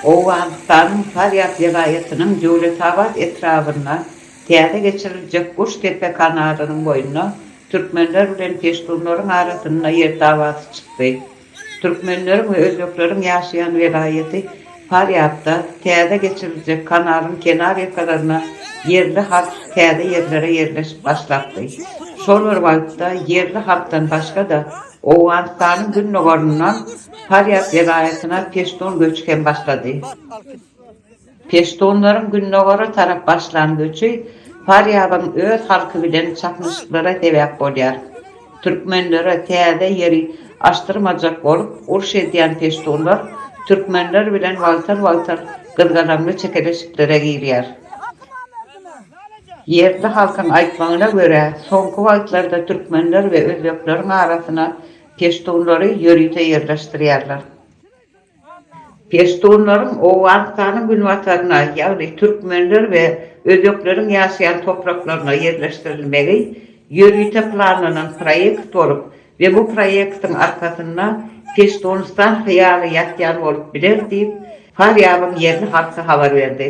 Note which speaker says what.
Speaker 1: Owganystanyň Farýat welaýatynyň Döwletabat etrabynda täze geçiriljek Guşdepe kanalynyň boýunda türkmenler bilen peştunlaryň arasynda ýer dawasy çykdy. Türkmenleriň we özbekleriň ýaşaýan welaýaty Farýabda täze geçiriljek kanalyň kenar ýakalaryna ýerli halk täze ýerlere ýerleşip başlapdy. Şol bir wagtda ýerli halkdan başga-da, Owganystanyň gündogaryndan Farýab welaýatyna peştun göçi hem başlady. Peştunlaryň gündogara tarap başlan göçi Farýabyň öz halky bilen çaknyşyklara sebäp bolýar. Türkmenlere täze ýeri açdyrmajak bolup uruş edýän peştunlar türkmenler bilen wagtal-wagtal gyzgalaňly çekeleşiklere girýär. Ýerli halkyň aýtmagyna görä, soňky wagtlarda türkmenler we özbekleriň arasyna peştunlary ýörite ýerleşdirýärler. Peştunlaryň Owganystanyň günbataryna, ýagny türkmenler we özekleriň ýaşaýan topraklaryna ýerleşdirilmegi ýörite planlanan proýekt bolup we bu proýektiň arkasynda Peştunystan hyýaly ýatýan bolup biler diýip, Farýabyň ýerli halky habar berdi.